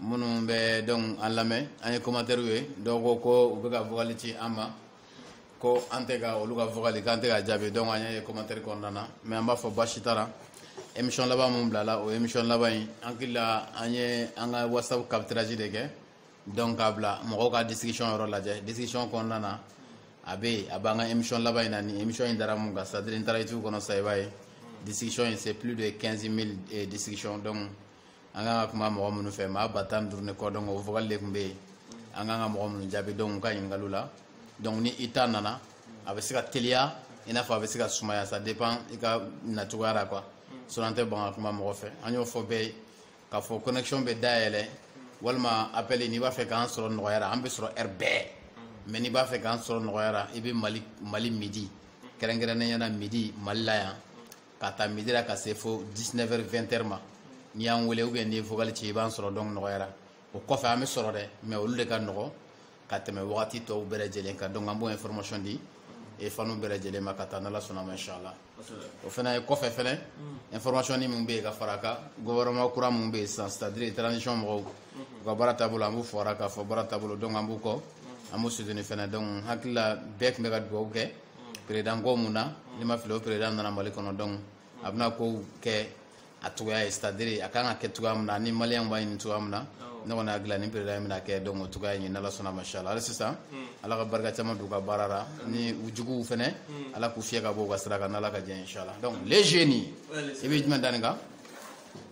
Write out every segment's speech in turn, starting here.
minnu bɛ donc an lamɛn an ye commentairew ye dɔw ko ko u bɛ ka vocal ci an ma ko an tɛ ka olu ka vocal k'an tɛ k'a jaabi donc an ye commentaire kɔnɔna na mais an b'a fɔ baasi t'a la émission laban min bilala o émission laban in an hakili la an ye an ka WhatsApp capturage de kɛ donc k'a bila mɔgɔw ka discussion yɔrɔ lajɛ discussion kɔnɔna na a bɛ yen a b'an ka émission laban in na ni émission in dara mun kan c'est à dire n'i taara YouTube kɔnɔ sa i b'a ye discussion in c'est plus de 15 000 eh, discussion donc an kan ka kuma mɔgɔ minnu fɛ maa ba tan ni duuru ni kɔ donc o vocal de tun bɛ yen an kan ka mɔgɔ minnu jaabi donc u ka ɲininkaliw la donc ni i ta nana a bɛ se ka teliya i n'a fɔ a bɛ se ka sumaya ça dépend i ka nacogoya la quoi sinon an tɛ ban ka kuma mɔgɔ fɛ an y'o fɔ bɛɛ ye k'a fɔ connexion bɛ dayɛlɛ walima appel n'i b'a fɛ k'an sɔrɔ nɔgɔya la an bɛ sɔrɔ heure bɛɛ mais n'i b'a fɛ k'an sɔrɔ nɔgɔya la i bɛ mali mali midi kɛrɛnkɛrɛnnenya la midi mali la yan k'a ta midi la ka se fo 19 heures 20 heures ma n'i y'an wele ou bien n'i ye vocal ci i b'an sɔrɔ donc nɔgɔya la o kɔfɛ an bɛ sɔrɔ dɛ mais olu de ka nɔgɔ ka tɛmɛ wagati tɔw bɛɛ lajɛlen kan donc an b'o information di eh fanw bɛɛ lajɛlen ma ka taa n'ala sɔnna ma inshallah o fana ye kɔfɛ fɛnɛ information ni min bɛ yen ka fara a kan gouvernement kura min bɛ yen sisan c'est à dire transition mɔgɔw u ka baara taabolo an b'u fɔra k'a fɔ baara taabolo donc an b'u kɔ an b'u soutenir fɛnɛ donc n hakili la bɛɛ tun bɛ ka dugawu kɛ président ko min na ni n ma fili o président nana mali kɔnɔ donc a bɛna ko kɛ a cogoya ye c'est à dire a kan ka kɛ cogoya min na ni malien b'a ɲini cogoya min na ne kɔni hakili la ni président in bɛn'a kɛ donc o cogoya in n'ala sɔnna mashala hali sisan ala ka barika caman don u ka baara la ni u juguw fɛnɛ ala k'u fiyɛ ka bɔ u ka sira kan n'ala ka jɛ inshala donc les jeunes i bɛ jumɛn da nin kan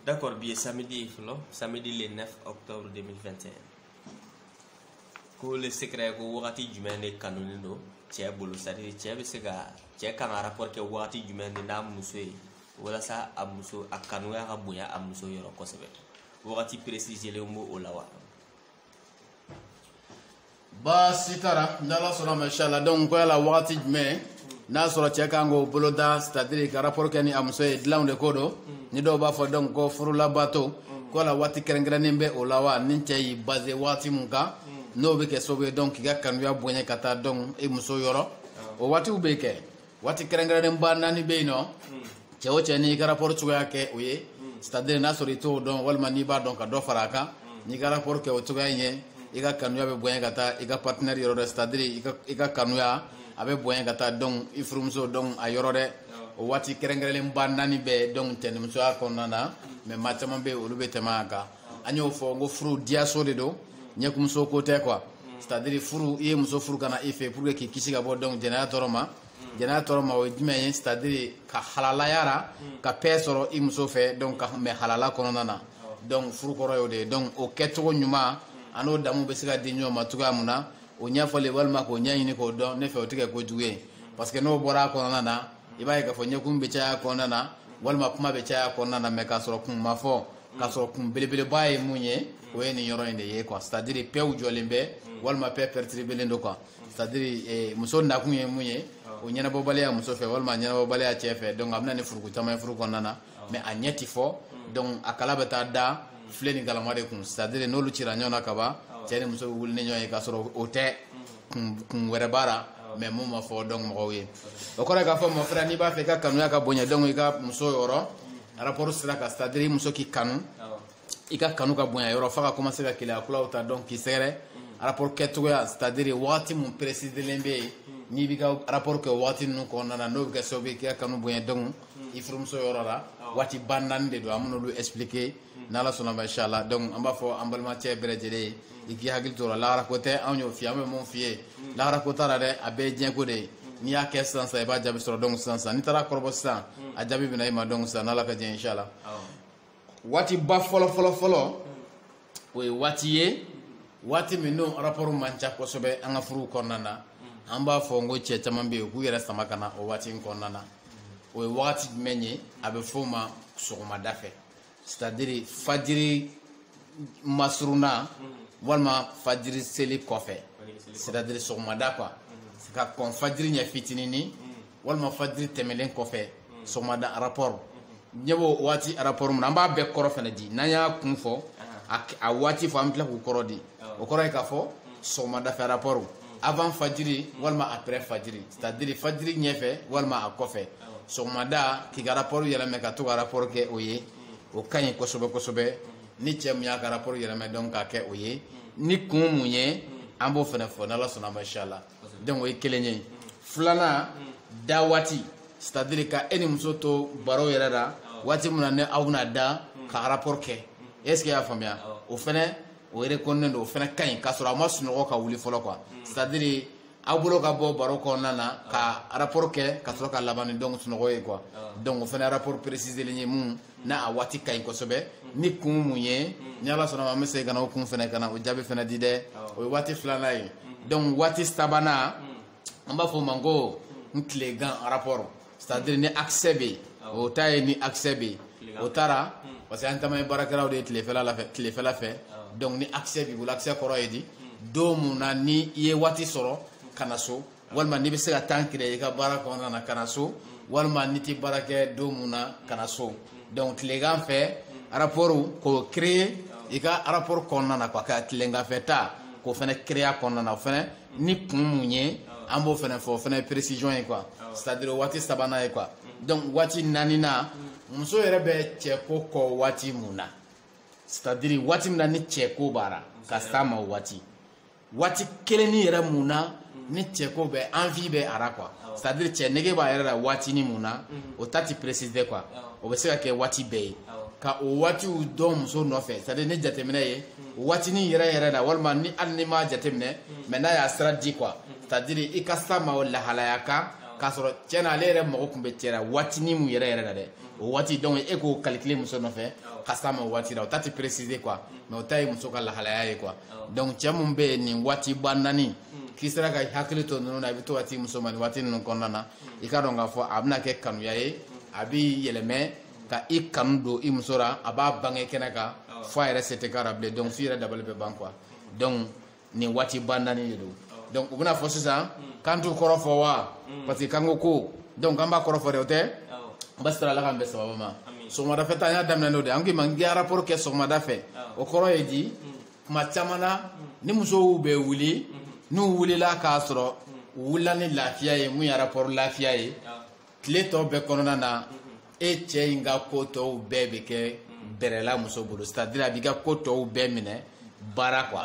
D'accord, bien samedi, samedi le 9 octobre 2021. ko le secret ko wagati jumɛn de kanunen don cɛ bolo c'est à dire cɛ bɛ se ka cɛ kan ka rapport kɛ wagati jumɛn de n'a muso ye walasa a muso a kanuya ka bonya a muso yɔrɔ kosɛbɛ wagati précisélen b'o la wa baasi t'a la n'ala sɔnna mashallah donc ko yala wagati jumɛn n'a sɔrɔ cɛ kan k'o boloda c'est à dire ka rapport kɛ ni a muso ye dilanw de ko don ni dɔw b'a fɔ donc ko furulabato ko la waati kɛrɛnkɛrɛnnen bɛ o la wa ni cɛ y'i baser waati min kan n'o bɛ kɛ sababu ye donc k'i ka kanuya bonya ka taa donc i muso yɔrɔ o waatiw bɛ kɛ waati kɛrɛnkɛrɛnnen ba naani bɛ yen nɔ cɛ o cɛ n'i ka rapport cogoya kɛ o ye c'est à dire n'a sɔrɔ i t'o dɔn walima n'i b'a dɔn ka dɔ fara a kan n'i ka rapport kɛ o cogoya in ye i ka kanuya bɛ bonya ka taa i ka partenaire yɔrɔ dɛ c'est à dire i ka kanuya a bɛ bonya ka taa donc i furumuso donc a yɔrɔ dɛ o waati kɛrɛnkɛrɛnlen ba naani bɛ donc cɛnimusoya kɔnɔna na mais maa caman bɛ yen olu bɛ tɛmɛ a kan an y'o fɔ n ko furu diyaso de don ɲɛkumuso ko tɛ quoi c'est à dire furu i ye muso furu ka na i fɛ pour que k'i kisi ka bɔ donc jɛnɛya tɔɔrɔ ma mm. jɛnɛya tɔɔrɔ ma o ye jumɛn ye c'est à dire ka halalaya a ra mm. ka paix sɔrɔ i muso fɛ donc ka mɛɛn halala kɔnɔna na donc furu kɔrɔ y'o de ye donc o kɛcogo ɲuman an'o damu bɛ se ka di ɲɔgɔn ma cogoya mun na o ɲɛfɔli walima k'o ɲɛɲini k'o dɔn ne fɛ o tɛ kɛ ko jugu ye parce que n'o bɔra a kɔnɔna na i b'a ye k'a fɔ ɲɛkun bɛ caya kɔnɔna na walima kuma bɛ caya kɔnɔna na mais k'a sɔrɔ kun ma fɔ k'a sɔrɔ kun belebeleba ye mun ye o ye nin yɔrɔ in de ye quoi c'est à dire paix jɔlen bɛ walima paix perturbélen don quoi c'est à dire eh, muso nakun ye mun ye o ɲɛnabɔbaliya muso fɛ walima ɲɛnabɔbaliya cɛ fɛ donc a bɛna ni furuku caman ye furu kɔnɔna na mais a ɲɛ ti fɔ donc a kɛlɛ bɛ taa da filen ni galama de kun c'est à dire n'olu cira ɲɔgɔn na ka ban cɛ ni muso bɛ wuli ni ɲɔgɔn ye k'a sɔrɔ o tɛ kun wɛrɛ b'a la mais mun ma fɔ donc mɔgɔw ye o kɔrɔ k'a fɔ mon frère n'i b'a fɛ i ka kanuya ka bonya donc i ka muso yɔrɔ rapport sira kan c'est à dire muso k'i kanu i ka kanu ka bonya yɔrɔ f'a ka commencer ka keleya kulaw ta donc k'i sɛgɛrɛ rapport kɛcogoya c'est à dire wagati mun précisélen bɛ yen n'i b'i ka rapport kɛ wagati ninnu kɔnɔna na n'o bɛ kɛ sababu ye k'i ka kanu bonya donc i furumuso yɔrɔ la waatiba naani de don an bɛn'olu expliquer n'ala sɔnna ma inchallah donc an b'a fɔ an balimacɛ bɛɛ lajɛlen ye i k'i hakili to o la lahara ko tɛ anw y'o f'i ye an bɛ mun f'i ye lahara ko t'a la dɛ a bɛɛ ye diɲɛko de ye n'i y'a kɛ sisan sisan i b'a jaabi sɔrɔ donc sisan sisan n'i taar'a kɔrɔbɔ sisan a jaabi bɛna i ma donc sisan n'ala ka diɲɛ inchallah waatiba fɔlɔfɔlɔfɔlɔ o ye waati ye waati min n'o rapport man ca kosɛbɛ an ka furuw kɔnɔna na an b'a fɔ n ko cɛ caman bɛ yen u k'u yɛrɛ sama ka na o waati in kɔnɔna na o ye wagati jumɛn ye a bɛ f'o ma sɔgɔmada fɛ c'est à dire fajiri masurunna walima fajiri seli kɔfɛ c'est à dire sɔgɔmada quoi ka kɔn fajiri ɲɛ fitinini walima fajiri tɛmɛlen kɔfɛ sɔgɔmada rapport ɲɛ b'o waati rapport min na an b'a bɛɛ kɔrɔ fɛnɛ di n'an y'a kun fɔ a waati fɔ an bɛ tila k'u kɔrɔ di o kɔrɔ ye k'a fɔ sɔgɔmadafɛ rapport avant fajiri walima après fajiri c'est à dire fajiri ɲɛfɛ walima a kɔfɛ sɔgɔmada k'i ka rapport yɛlɛmɛ ka to ka rapport kɛ o ye o ka ɲi kosɛbɛ kosɛbɛ ni cɛ mun y'a ka rapport yɛlɛmɛ donc k'a kɛ o ye ni kun mun ye an b'o fɛnɛ fɔ n'ala sɔnna ma inshallah donc o ye kelen ye filanan da waati c'est à dire ka e ni muso to baro yɛrɛ la waati min na ni aw bɛna da ka rapport kɛ est ce que y'a faamuya o fɛnɛ o reconnaît don o fɛnɛ ka ɲi k'a sɔrɔ a ma sunɔgɔ ka wuli fɔlɔ quoi c'est à dire aw bolo ka bɔ baro kɔnɔna na ka rapport kɛ ka sɔrɔ ka laban ni donc sunɔgɔ ye quoi donc o fɛnɛ rapport précisélen ye mun n'a a waati ka ɲi kosɛbɛ ni kun mun ye ni ala sɔnna ma an bɛ segin ka na o kun fɛnɛ ka na o jaabi fɛnɛ di dɛ o ye waati filanan ye donc waati sabanan an b'a fɔ o ma ko n tilegan rapport c'est à dire ni accès bɛ yen o ta ye ni accès bɛ yen o taara parce que an caman ye baarakɛlaw de ye tilefɛ tilefɛla fɛ donc ni accès b'i bolo accès kɔrɔ ye di don mun na ni i ye waati sɔrɔ ka na so walima n'i bɛ se ka temps créer i ka baara kɔnɔna na ka na so walima n'i tɛ baara kɛ don mun na ka na so donc tilegan fɛ rapport k'o créer i ka rapport kɔnɔna na quoi ka tilegan fɛ ta k'o fana créer kɔnɔna na o fana ni kun mun ye an b'o fana fɔ o fana ye précision ye quoi c'est à dire waati sabanan ye quoi donc waati naaninan muso yɛrɛ bɛ cɛko kɔ waati mun na c'est à dire waati min na ni cɛko b'a la ka s'a ma o waati waati kelenni yɛrɛ mun na ni cɛko bɛ envie bɛ a la quoi c'est à dire cɛ nege b'a yɛrɛ la waatini mun na o ta ti préciser quoi o bɛ se ka kɛ waati bɛɛ ye ka o waatiw dɔn muso nɔfɛ c'est à dire ni jateminɛ ye o waatini yɛrɛ yɛrɛ la walima ni hali n'i m'a jateminɛ mais n'a y'a sira di quoi c'est à dire i ka s'a ma o lahalaya kan k'a sɔrɔ tiɲɛ na ale yɛrɛ mago tun bɛ cɛ la waatini mun yɛrɛ yɛrɛ la dɛ o waati donc e k'o calculer muso nɔfɛ ka s'a ma o waati la o ta ti préciser quoi mais o ta ye muso ka lahalaya ye quoi donc cɛ mun bɛ nin waati ba naani hmm. k'i sera ka hakili to ninnu na i bɛ to ka t'i muso ma nin waati ninnu kɔnɔna na hmm. i ka dɔn k'a fɔ a bɛna kɛ kanuya ye hmm. a b'i yɛlɛmɛ ka i kanu don i muso la a b'a bange kɛnɛ kan fo a yɛrɛ se tɛ k'a la bilen donc f'i yɛrɛ dabali bɛ ban quoi donc nin waati ba naani de don donc u bɛna fɔ sisan k'an t'u kɔrɔ fɔ wa parce que k'an ko ko donc k'an b'a kɔrɔ fɔ dɛ o tɛ baasi t'a la ala k'an bɛn sababu ma sɔgɔmada fɛ ta an y'a daminɛ n'o de an k'i ma n k'i rapport kɛ sɔgɔmada fɛ o kɔrɔ ye di kuma caman na ni musow bɛ wuli n'u wulila k'a sɔrɔ u wulila ni lafiya ye mun ye rapport lafiya ye tile tɔ bɛɛ kɔnɔna na e cɛ in ka ko tɔw bɛɛ bɛ kɛ bɛrɛ la muso bolo c'est à dire a b'i ka ko tɔw bɛɛ minɛ ba la quoi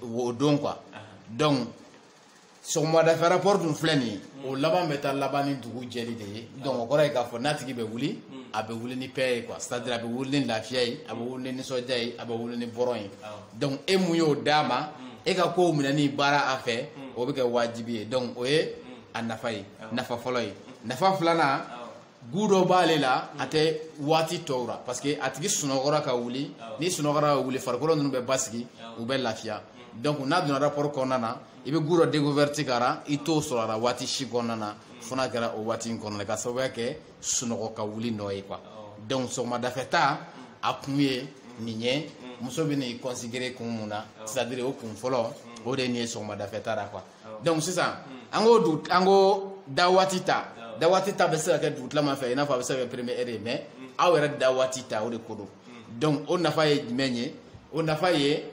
o don quoi donc sɔgɔmadafɛ rapport dun filɛ nin ye o laban bɛ taa laban ni dugu jɛli de ye donc o kɔrɔ ye k'a fɔ n'a tigi bɛ wuli a bɛ wuli ni paix ye quoi c'est à dire a bɛ wuli ni lafiya ye a bɛ wuli ni nisɔndiya ye a bɛ wuli ni bonheur ye donc e mun y'o d'a ma e ka kow minɛni ba la a fɛ o bɛ kɛ wajibi ye donc o ye a nafa ye nafa fɔlɔ ye nafa filanan goût dɔ b'ale la a tɛ waati tɔw la parce que a tigi sunɔgɔra ka wuli n'i sunɔgɔra ka wuli farikolo ninnu bɛ basigi u bɛ lafiya donc n'a donna rapport kɔnɔna na i bɛ goût dɔ découverte k'a la i t'o sɔrɔ a la waati si kɔnɔna na fo n'a kɛra o waati in kɔnɔna na ka sababuya kɛ sunɔgɔ ka wuli nɔ ye quoi donc sɔgɔmadafɛta a kun ye nin ye muso bɛ nin considérer kun mun na c'est à dire o kun fɔlɔ o de ye nin ye sɔgɔmadafɛta la quoi donc sisan an ko dugu an ko da waati ta da waati ta bɛ se ka kɛ dugutilama fɛ i n'a fɔ a bɛ se ka kɛ première heure ye mais aw yɛrɛ da waati ta o de ko don donc o nafa ye jumɛn ye o nafa ye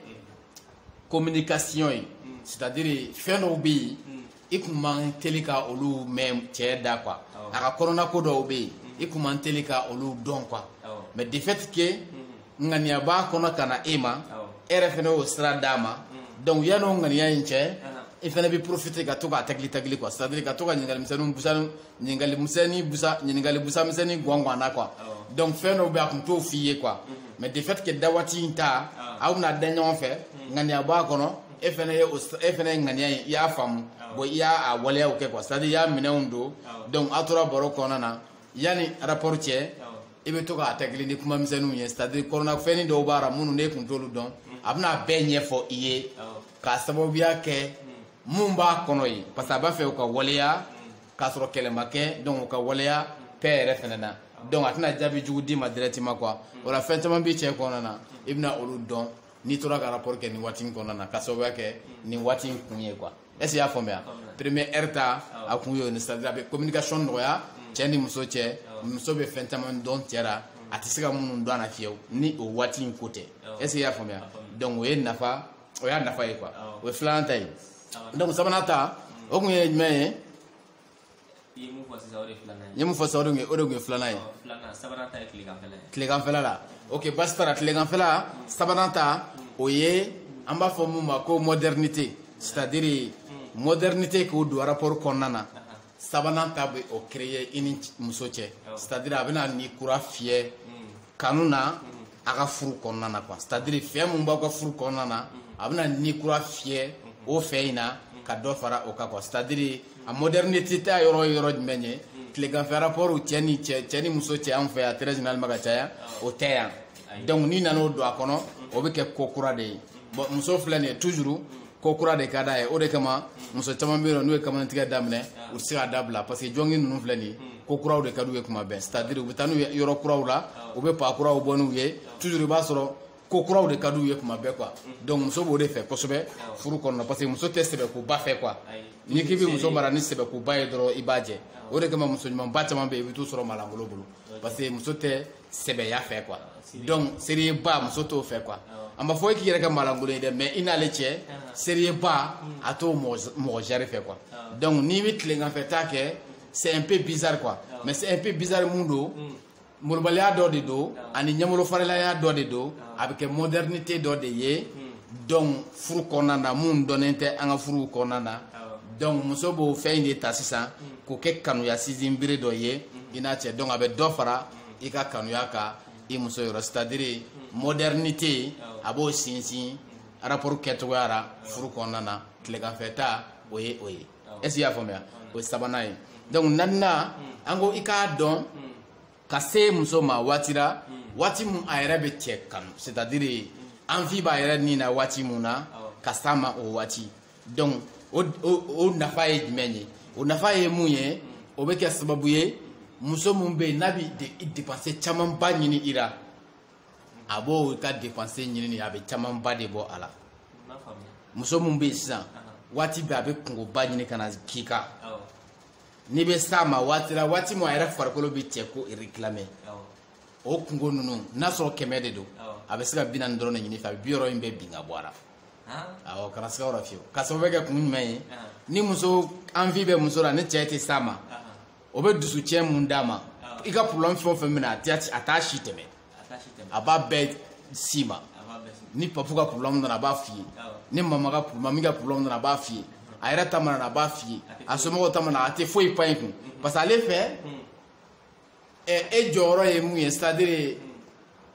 communication ye c'est à dire fɛn dɔw bɛ yen i kun man teli ka olu mɛn cɛ da quoi a ka kɔnɔna ko dɔw bɛ yen i kun man teli ka olu dɔn quoi mais de fait que ŋaniya b'a kɔnɔ ka na e ma e yɛrɛ fɛnɛ y'o sira d'a ma mm. donc yanni o ŋaniya in cɛ i fɛnɛ bɛ profiter ka to k'a tagili tagili quoi c'est à dire ka to ka ɲininkali misɛnninw busa ɲininkali misɛnnin busa ɲininkali busa misɛnnin gɔn gɔn na quoi donc fɛn dɔw bɛ a kun t'o f'i ye quoi mm-hmm. mais de fait que da waati in ta aw bɛna da ɲɔgɔn fɛ mm. ŋaniya b'a kɔnɔ mm. e fɛnɛ ye e fɛnɛ ye ŋaniya in i y'a faamu bon i y'a waleyaw kɛ quoi c'est à dire i y'a minɛnw don donc aw tora baro kɔnɔna na yanni rapport cɛ i bɛ to k'a tagili ni kuma misɛnninw ye c'est à dire kɔnɔnafɛnnin dɔw b'a la minnu n'e kun t'olu dɔn a bɛna bɛɛ ɲɛfɔ i ye k'a sababuya kɛ mun b'a kɔnɔ ye parce que a b'a fɛ o ka waleya k'a sɔrɔ kɛlɛ ma kɛ donc o ka waleya paix yɛrɛ fɛnɛ na donc a tɛna jaabi jugu d'i ma directement quoi o la fɛn caman b'i cɛ kɔnɔna na i bɛna olu dɔn n'i tora ka rapport kɛ nin waati in kɔnɔna na k'a sababuya kɛ nin waati in kun ye quoi est-ce que y'a faamuya premier heure ta a kun y'o ni c'est à dire a bɛ communication nɔgɔya cɛ ni muso cɛ muso bɛ fɛn caman dɔn cɛ la a tɛ se ka minnu dɔn a la fiyewu ni o waati in ko tɛ est-ce que y'a faamuya donc o ye nafa o y'a nafa ye quoi o ye filanan ta ye donc sabanan ta o kun ye jumɛn ye. i ye mun fɔ sisan o de ye filanan ye n ye mun fɔ sisan o de tun ye filanan ye filanan sabanan ta ye tileganfɛla ye tileganfɛla la ok baasi t'a la tileganfɛla sabanan ta o ye an b'a fɔ mun ma ko modernité c'est à dire modernité k'o don rapport kɔnɔna na sabanan ta bɛ o créer i ni muso cɛ c'est à dire a bɛna ni kura fiyɛ kanu na a ka furu kɔnɔna na quoi c'est à dire fɛn mun b'aw ka furu kɔnɔna na a bɛna ni kura fiyɛ o fɛn in na ka dɔ fara o kan quoi c'est à dire a modernité ta yɔrɔ ye yɔrɔ jumɛn ye tileganfɛ rapport cɛ ni cɛ cɛ ni muso cɛ anw fɛ yan très généralement ka caya o tɛ yan donc n'i nana o don a kɔnɔ o bɛ kɛ ko kura de ye bon muso filɛ nin ye toujours ko kura de ka d'a ye o de kama muso caman bɛ yen n'u ye kamaletigɛ daminɛ u tɛ se k'a dabila parce que jɔngi ninnu filɛ nin ye ko kuraw de ka d'u ye kuma bɛɛ c'est à dire u bɛ taa n'u ye yɔrɔ kuraw la u bɛ pa kuraw bɔ n'u ye toujours i b'a sɔrɔ ko kuraw de ka d'u ye kuma bɛɛ quoi donc muso b'o de fɛ kosɛbɛ furu kɔnɔna parce que muso tɛ sɛbɛkoba fɛ quoi n'i k'i bɛ muso mara ni sɛbɛkoba ye dɔrɔn i b'a jɛ o de kama muso ɲumanba caman bɛ yen i bɛ t'u sɔrɔ maalankolon bolo parce que muso tɛ sɛbɛya fɛ quoi donc seriyeba muso t'o fɛ quoi an m'a fɔ e k'i yɛrɛ kɛ maalankolon ye dɛ mais i n'ale cɛ seriyeba a t'o mɔgɔ jari fɛ quoi donc n'i bɛ tileganfɛta kɛ c'est un peu bizarre quoi mais c'est un peu bizarre mun don molobaliya dɔ de don ani ɲɛmolo faralaya dɔ de don a bɛ kɛ modernité dɔ de ye donc furu kɔnɔna na mun dɔnnen tɛ an ka furuw kɔnɔna na donc muso b'o fɛn in de ta sisan k'o kɛ kanuya sinsin bere dɔ ye mm-hmm. i n'a cɛ donc a bɛ dɔ fara mm-hmm. i ka kanuya kan i muso yɔrɔ c'est à dire mm-hmm. modernité a b'o sinsin rapport kɛcogoya la furu kɔnɔna na tileganfɛta o ye o ye est ce que i y'a faamuya o ye sabanan ye donc naaninan an ko i k'a dɔn ka se muso ma waati la waati mun a yɛrɛ bɛ cɛ kanu c'est à dire envie b'a yɛrɛ ni na waati mun na ka s'a ma o waati donc o o nafa ye jumɛn ye o nafa ye mun ye o bɛ kɛ sababu ye muso mun bɛ yen n'a bɛ dépense camanba ɲini i la a b'o ka dépense ɲini a bɛ camanba de bɔ a la muso mun bɛ yen sisan waati bɛɛ a bɛ kungoba ɲini ka na k'i kan. n'i bɛ s'a ma waati la waati min a yɛrɛ farikolo bɛ cɛ ko réclamer o kungo ninnu n'a sɔrɔ kɛmɛ de don a bɛ se ka bi naani dɔrɔn de ɲin'i fɛ a bɛ bi wɔɔrɔ in bɛɛ bin ka bɔ a la awɔ kana siga o la fiyewu ka sababu kɛ kun jumɛn ye ni muso envie bɛ muso la ni cɛ tɛ s'a ma o bɛ dusucɛn mun d'a ma i ka problème fɛn o fɛn bɛna a t'a si tɛmɛ a b'a bɛɛ s'i ma ni papu ka problème nana a b'a f'i ye ni mama ka mami ka problème nana a b'a f'i ye a yɛrɛ ta mana na a b'a f'i ye a somɔgɔw ta mana a tɛ foyi pan i kun parce que ale fɛ e jɔyɔrɔ ye mun ye c'est à dire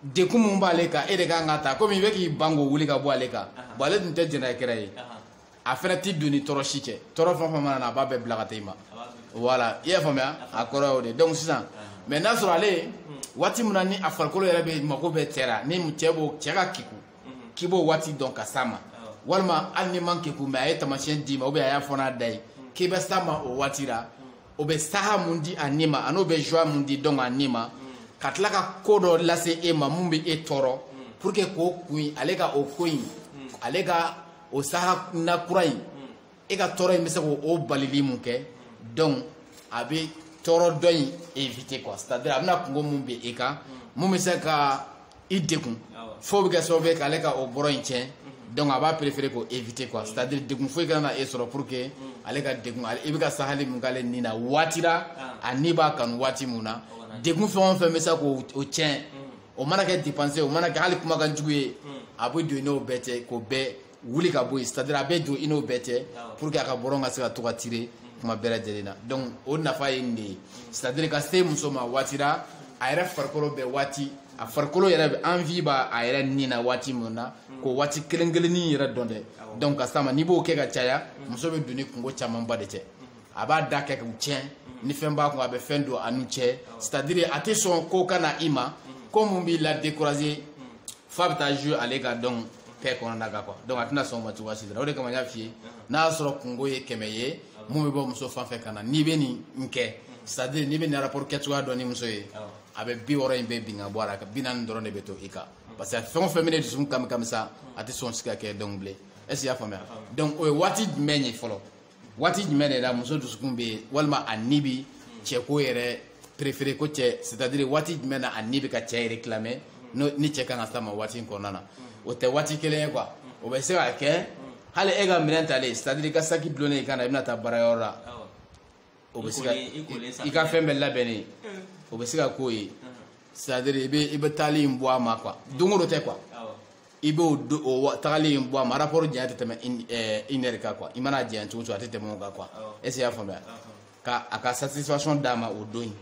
degun mun b'ale kan e de kan k'a ta komi i bɛ k'i ban k'o wuli ka bɔ ale kan bon ale tun tɛ jɛnɛyakɛla ye. a fɛnɛ tɛ don ni tɔɔrɔ si cɛ tɔɔrɔ fɛn o fɛn mana na a b'a bɛɛ bila ka taa i ma voilà i y'a faamuya a kɔrɔ y'o de donc sisan mais n'a sɔrɔ ale waati min na ni a farikolo yɛrɛ bɛ mako bɛ cɛ la ni cɛ b'o cɛ ka kegun k'i b'o waati dɔn ka s'a ma walima hali n'i man kegun mais a ye taamasiyɛn d'i ma ou bien a y'a fɔ n'a da ye k'i bɛ s'a ma o waati la o bɛ saha mun di a ni ma an'o bɛ joie mun di donc a ni ma ka tila ka ko dɔ lase e ma mun bɛ e tɔɔrɔ pour que k'o kun ale ka o ko in ale ka o saha nakura in e ka tɔɔrɔ in bɛ se k'o balili mun kɛ donc a bɛ tɔɔrɔ dɔ in éviter quoi c'est à dire a bɛna kungo mun bɛ e kan mun bɛ se ka i degun f'o bɛ kɛ sababu ye k'ale ka o bɔrɔ in tiɲɛ donc a b'a préférer k'o éviter quoi c'est à dire degun foyi kana na e sɔrɔ pour que ale ka degun ale i bɛ ka sahali mun k'ale ni na waati la a ni b'a kanu waati mun na degun fɛn o fɛn bɛ se k'o tiɲɛ. o mana kɛ dépense o mana kɛ hali kumakan jugu ye a bɛ don i n'o bɛɛ cɛ k'o bɛɛ wuli ka bɔ yen c'est à dire a bɛ don i n'o bɛɛ cɛ pour que a ka bɔrɔ ka se ka to ka tirer kuma bɛɛ lajɛlen na donc o nafa ye nin de ye c'est à dire ka se muso ma waati la a yɛrɛ farikolo bɛ waati a farikolo yɛrɛ bɛ envie b'a a yɛrɛ ni na waati min na k'o waati kelen kelennin yɛrɛ dɔn dɛ donc ka s'a ma n'i b'o kɛ ka caya muso bɛ don ni kungo camanba de cɛ a b'a da kɛ k'u tiɲɛ ni fɛn b'a kun a bɛ fɛn don a n'u cɛ c'est à dire a tɛ sɔn ko ka na i ma ko mun b'i la décourager f'a bɛ taa jouer ale ka donc paix kɔnɔna kan quoi donc a tɛna sɔn o ma cogoya si la o de kama n y'a f'i ye n'a y'a sɔrɔ kungo ye kɛmɛ ye mun bɛ bɔ muso fan fɛ ka na n'i bɛ nin kɛ c'est à dire n'i bɛ nin rapport kɛcogoya dɔn ni muso ye a bɛ bi wɔɔrɔ in bɛɛ bin ka bɔ a la bi naani dɔrɔn de bɛ to i kan parce que fɛn o fɛn bɛn'e dusukun kami kami sa a tɛ sɔn si ka kɛ donc bilen est ce que i y'a faamuya donc o ye waati jumɛn ye fɔlɔ. waati jumɛn de la muso dusukun bɛ walima a ni bi cɛko yɛrɛ préférer ko cɛ c'est à dire waati jumɛn na a ni bɛ ka cɛ réclamer ni cɛ kan ka s'a ma waati in kɔnɔna na o tɛ waati kelen ye quoi o bɛ se ka kɛ hali e ka minɛn talen c'est à dire i ka saki dulonnen i kan na i bɛna taa baarayɔrɔ la o bɛ se ka i ka fɛn bɛɛ labɛnnen o bɛ se ka k'o ye c'est à dire i bɛ i bɛ taali in bɔ a ma quoi don o don tɛ quoi i b'o o tagali in bɔ a ma rapport janya tɛ tɛmɛ une heure kan quoi i mana janya cogo o cogo a tɛ tɛmɛ o kan quoi est ce que i y'a faamuya ka a ka satisfaction d'a ma o don in.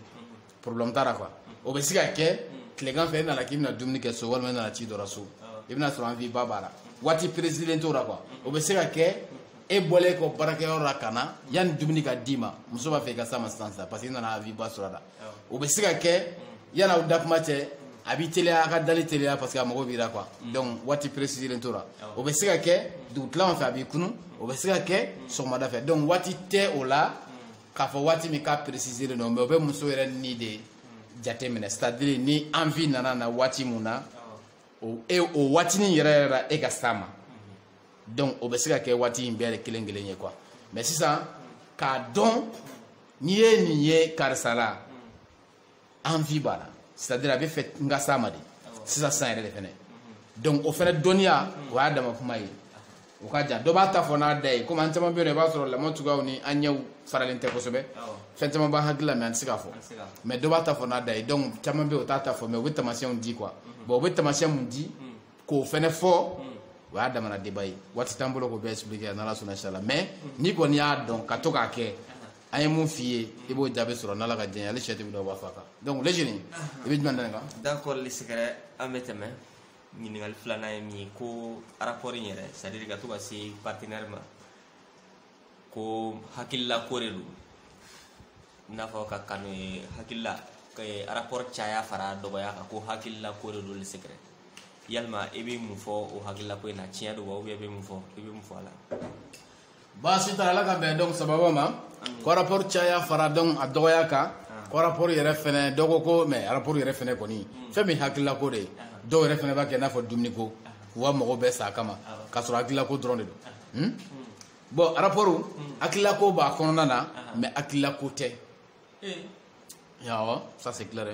problème t'a la quoi o bɛ se ka kɛ tilegan fɛ e nana k'i bɛna dumuni kɛ so walima e nana ci dɔ la so i bɛna sɔrɔ envie ba b'a la waati préciser len t'o la quoi o bɛ se ka kɛ e bɔlen kɔ baarakɛyɔrɔ la ka na yanni dumuni ka d'i ma muso b'a fɛ i ka s'a ma sisan sisan parce que i nana envie ba sɔrɔ a la o bɛ se ka kɛ yanni aw da kuma cɛ a b'i teliya a ka dali teliya parce que a mago b'i la quoi donc waati préciser len t'o la o bɛ se ka kɛ dugutilaw fɛ a b'i kunun o bɛ se ka kɛ sɔgɔmada fɛ donc waati tɛ o la k'a fɔ waati min k'a préciser len don mais o bɛ muso yɛrɛ ni de jate minɛ c'est à dire ni envie nana na waati mun na o e o waatinin yɛrɛ yɛrɛ la e ka s'a ma donc o bɛ se ka kɛ waati in bɛɛ de kelen kelen ye quoi mais sisan k'a dɔn n'i ye nin ye karisa la envie b'a la c'est à dire a b'a fɛ n ka s'a ma de sisan san yɛrɛ de fɛnɛ donc o fɛnɛ dɔnniya o y'a dama kuma ye o ka jan dɔ b'a ta fɔ n'a da ye komi an caman bɛ yen nɔ i b'a sɔrɔ lamɔ cogoyaw ni an ɲɛw faralen tɛ kosɛbɛ fɛn caman b'an hakili la mais an tɛ se k'a fɔ mais dɔ b'a ta fɔ n'a da ye donc caman bɛ yen o t'a ta fɔ mais u bɛ taamasiyɛnw di quoi bon u bɛ taamasiyɛn mun di k'o fɛnɛ fɔ o y'a damana débat ye waati t'an bolo k'o bɛɛ expliquer n'ala sɔnna inchallah mais n'i kɔni y'a dɔn ka to k'a kɛ an ye mun f'i ye i b'o jaabi sɔrɔ n'ala ka diɲɛ ale sɛ tɛ dɔ b'a fa kan donc le jeune i bɛ jumɛn da nin kan d'accord le secret an bɛ tɛmɛ ɲininkali filanan ye min ye ko rapport in yɛrɛ c'est à dire ka to ka se partenaire ma ko hakilila ko de don i n'a fɔ ka kanu ye hakilila rapport caya fara dɔgɔya kan ko hakilila ko de don le secret yalima i bɛ mun fɔ o hakilila ko in na tiɲɛ don wa ou bien i bɛ mun fɔ i bɛ mun fɔ a la baasi t'a la ala ka bɛn donc sababu ma ko rapport caya fara donc a dɔgɔya kan ko rapport yɛrɛ fɛnɛ dɔ ko ko mais rapport yɛrɛ fɛnɛ kɔni hmm. fɛn min hakililako de ye dɔw yɛrɛ fɛnɛ b'a kɛ i n'a fɔ dumuniko k'u ka mɔgɔw bɛɛ sa kama k'a sɔrɔ hakililako dɔrɔn de don hmm? hmm. bon rapport hakililako b'a kɔnɔna na mais hakililako tɛ eh. awɔ ça c'est clair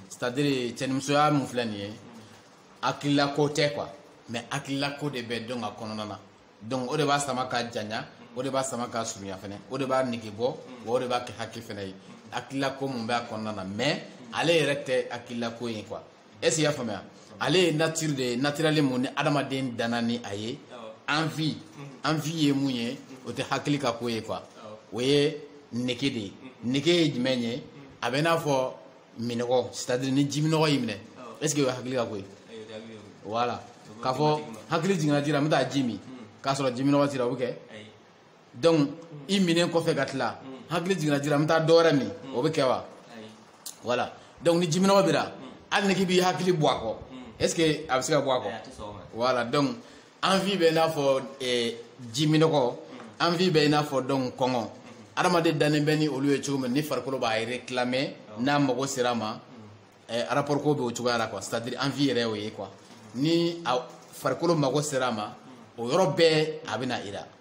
c'est à dire cɛnimusoya mun filɛ nin ye hakililako tɛ quoi mais hakililako de bɛ donc a kɔnɔna na donc o de b'a sama ka janya o de b'a sama ka surunya fɛnɛ o de b'a nege bɔ wa o de b'a kɛ hakili fɛnɛ ye hakililako mun b'a kɔnɔna na mais ale yɛrɛ tɛ hakililako ye quoi est ce que i y'a faamuya ale ye nature de ye naturellement mun ni adamaden danna ni a ye envie envie ye mun ye o tɛ hakili ka ko ye quoi o ye nege de ye nege ye jumɛn ye a bɛ i n'a fɔ minɔgɔ c'est-à-dire ni jiminɔgɔ y'i minɛ est ce que o ye hakili ka ko ye voilà k'a fɔ hakili jiginna ji la n bɛ taa ji min k'a sɔrɔ jiminɔgɔ t'i la o bɛ kɛ donc i minnen kɔfɛ ka tila hakili jiginna ji la n bɛ taa dɔ wɛrɛ min o bɛ kɛ wa voilà donc ni jiminɔgɔ b'i la hali n'i k'i b'i hakili bɔ a kɔ est ce que a bɛ se ka bɔ a kɔ voilà donc envie bɛ i n'a fɔ eh, jiminɔgɔ envie bɛ i n'a fɔ donc kɔngɔ adamaden dannen bɛ ni olu ye cogo min ni farikolo b'a réclamer n'a mago sera a ma eh, rapport ko bɛ o cogoya la quoi c'est à dire envie yɛrɛ y'o ye quoi ni a farikolo mago sera a ma o yɔrɔ bɛɛ a bɛ na i la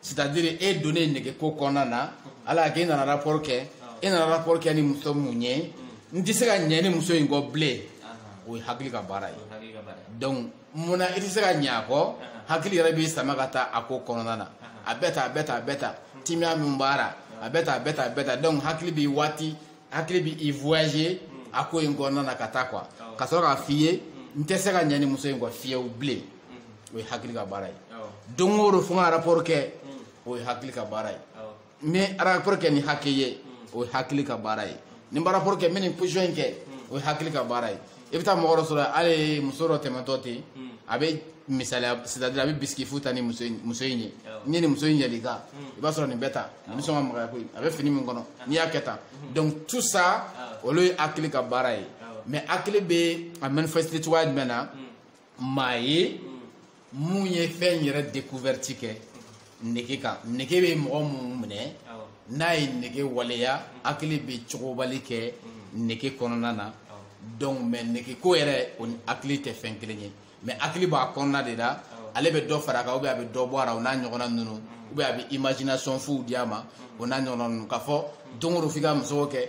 c'est à dire e donnen nege ko kɔnɔna na ala y'a kɛ e nana rapport kɛ e nana rapport kɛ ni muso mun ye n tɛ se ka ɲɛ ni muso in kɔ bilen o ye hakili ka baara ye donc mun na i tɛ se ka ɲɛ a kɔ hakili yɛrɛ b'i sama ka taa a ko kɔnɔna na a bɛɛ ta a bɛɛ ta a bɛɛ ta timiya min b'a la a bɛɛ ta a bɛɛ ta a bɛɛ ta donc hakili b'i waati hakili b'i voyager a ko in kɔnɔna na ka taa quoi ka sɔrɔ k'a f'i ye n tɛ se ka ɲɛ ni muso in kɔ fiyewu bilen o ye hakili ka baara ye don o don fo n ka rapport kɛ o ye hakili ka baara ye n bɛ rapport kɛ ni hakɛ ye o ye hakili ka baara ye ni n bɛ rapport kɛ n bɛ nin position in kɛ o ye hakili ka baara ye i bɛ taa mɔgɔ dɔ sɔrɔ hali muso dɔ tɛmɛtɔ ten a bɛ misaliya c'est à dire a bɛ bisigi fu ta ni muso in muso in ye n'i ye nin muso in yɛlɛ i kan i b'a sɔrɔ nin bɛ tan nin bɛ sɔn ka magaya koyi a bɛ fini min kɔnɔ n'i y'a kɛ tan donc tout ça olu ye hakili ka baara ye mais hakili bɛ a manifester cogoya jumɛn na. maa ye mun ye fɛn yɛrɛ découverte kɛ nege kan nege bɛ mɔgɔ mun minɛ n'a ye nege waleya hakili bɛ cogobali kɛ nege kɔnɔna na donc mais nege ko yɛrɛ o ni hakili tɛ fɛn kelen ye mais hakili b'a kɔnɔna de la ale bɛ dɔ fara a kan ou bien a bɛ dɔ bɔ a la o n'a ɲɔgɔnna ninnu ou bien a bɛ imagination fuw di a ma o n'a ɲɔgɔnna ninnu k'a fɔ don o don f'i ka musoko kɛ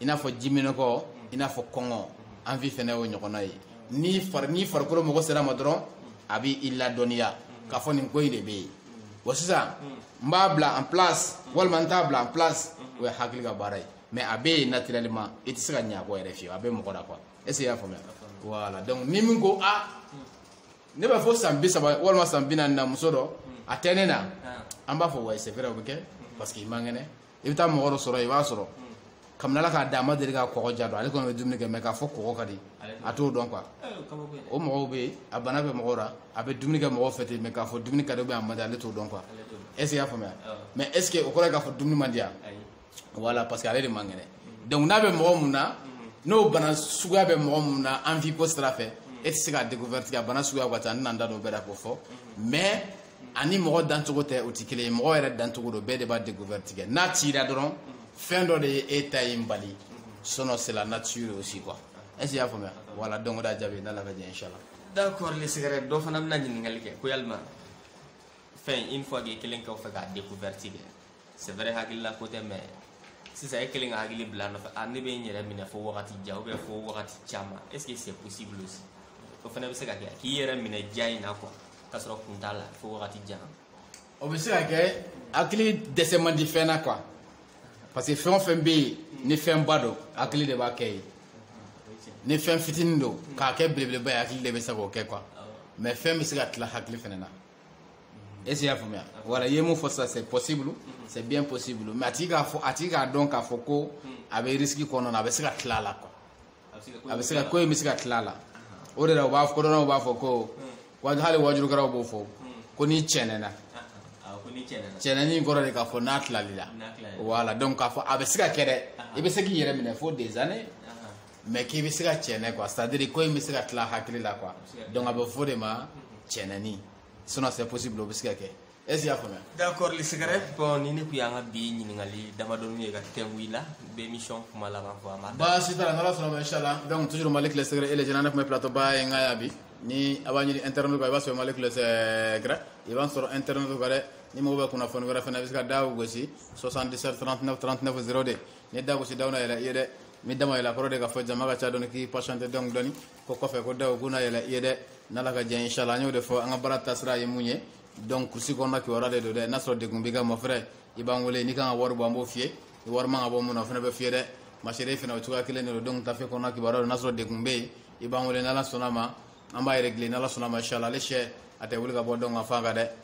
i n'a fɔ jiminɔgɔ i n'a fɔ kɔngɔ envie fɛnɛ y'o ɲɔgɔnna ye ni fari ni farikolo mago sera a ma dɔrɔn a bɛ i ladɔnniya k'a fɔ nin ko in de bɛ yen wa sisan n b'a bila en place walima n t'a bila en place o ye hakili ka baara ye mais a bɛ yen naturellement i tɛ se ka ɲɛ a kɔ yɛrɛ fiyewu a bɛ mɔgɔ la quoi est ce que i y'a faamuya voilà donc ni min ko a ne b'a fɔ san bi saba walima san bi naani na muso dɔ a tɛ ne na an b'a fɔ ouais c'est vrai o bɛ kɛ parce que i man kɛnɛ i bɛ taa mɔgɔ dɔ sɔrɔ i b'a sɔrɔ kabini ala k'a da a ma deli ka kɔgɔ ja dɔn ale kɔni bɛ dumuni kɛ mais k'a fɔ kɔgɔ ka di a t'o dɔn quoi o mɔgɔw bɛ yen a bana bɛ mɔgɔw la a bɛ dumuni kɛ mɔgɔw fɛ ten mais k'a fɔ dumuni ka di a man di ale t'o dɔn quoi est ce que i y'a faamuya mais est ce que o kɔrɔ ye k'a fɔ dumuni man di yan voilà parce que ale de man kɛnɛ donc n'a bɛ mɔgɔ mun na n'o bana suguya bɛ mɔgɔ mun na envie ko sira fɛ e tɛ se k'a découverte kɛ a bana suguya ka ca n tɛna n da don o bɛɛ la k'o fɔ mais ani mɔgɔ dancogo tɛ o tɛ kelen ye mɔgɔ yɛrɛ dancogo don bɛɛ de b'a découverte kɛ n'a cira dɔrɔn fɛn dɔ de ye e ta in bali sinon c'est la nature aussi quoi est ce que i y'a faamuya voilà donc o de y'a jaabi n'ala ka jɛ inchallah d'accord les secrets dɔ fana bɛna ɲininkali kɛ ko yalima fɛn une fois que i kɛlen kɔfɛ k'a découverte kɛ c'est vrai hakilila ko tɛ mais sisan e kelen ka hakili bila nɔfɛ a ne bɛ n yɛrɛ minɛ fo wagati jan ou bien fo wagati caman est ce que c'est possible aussi o fana bɛ se ka kɛ k'i yɛrɛ minɛ ja in na quoi k'a sɔrɔ kun t'a la fo wagati jan o bɛ se ka kɛ hakili dɛsɛ man di fɛn na quoi parce que fɛn o fɛn bɛ yen ni fɛnba don hakili de b'a kɛ yen ni fɛn fitinin don k'a kɛ belebeleba ye hakili de bɛ se k'o kɛ quoi mais fɛn bɛ se ka tila hakili fana na est ce que i y'a faamuya voilà i ye mun fɔ sisan c'est possible c'est bien possible mais a tigi k'a fɔ a tigi k'a dɔn k'a fɔ ko a bɛ risque kɔnɔna a bɛ se ka tila a la quoi a bɛ se ka ko in bɛ se ka tila a la o de la u b'a kodɔnnaw b'a fɔ ko wa hali waajulikɛlaw b'o fɔ ko n'i cɛnɛna cɛnɛni kɔrɔ de k'a fɔ n'a tilal'i la voilà donc k'a fɔ a bɛ se ka kɛ dɛ i bɛ se k'i yɛrɛ minɛ fo des années mais k'i bɛ se ka cɛnɛ quoi c'est à dire ko in bɛ se ka tila hakili la quoi donc a bɛ f'o de ma cɛnɛni sinon c'est possible o bɛ se ka kɛ est ce que i y'a faamuya. d'accord les secrets bon nin de tun y'an ka bi ɲininkali damadɔni ye ka tɛngu i la bɛ émission kuma laban fɔ a ma. baasi t'a la n'ala sɔnna ma inshallah donc toujours malick les secrets et les jeunes ne tun bɛ plateau ba in kan yan bi ni a b'a ɲini internet kan i b'a sɔrɔ malick les secrets i b'a sɔrɔ internet kan dɛ ni mago bɛ kunnafoni wɛrɛ fana i bɛ se ka da gosi 77 39 39 02 ni da gosi daw na yɛlɛ i ye dɛ. ni da ma yɛlɛ a kɔrɔ de k'a fɔ jama ka ca dɔɔni k'i patienter dɔɔni dɔɔni ko kɔfɛ ko daw k'u na yɛlɛ i ye dɛ n'ala ka jɛ inshallah an y'o de fɔ an ka baara taasira ye mun ye donc kurusi kɔnɔna kibaruya de don dɛ n'a sɔrɔ degun b'i kan mon frère i b'an wele n'i kan ka wari bɔ an b'o f'i ye ni wari man ka bɔ mun na o fana bɛ f'i ye dɛ ma sœur fana o cogoya kelen de don donc taafe kɔnɔna kibaruya don n'a sɔrɔ degun bɛ yen i b'an wele n'ala sɔnna a ma an b'a régler n'ala sɔnna a ma inshallah ale sɛ a tɛ wuli ka bɔ donc ka f'a kan dɛ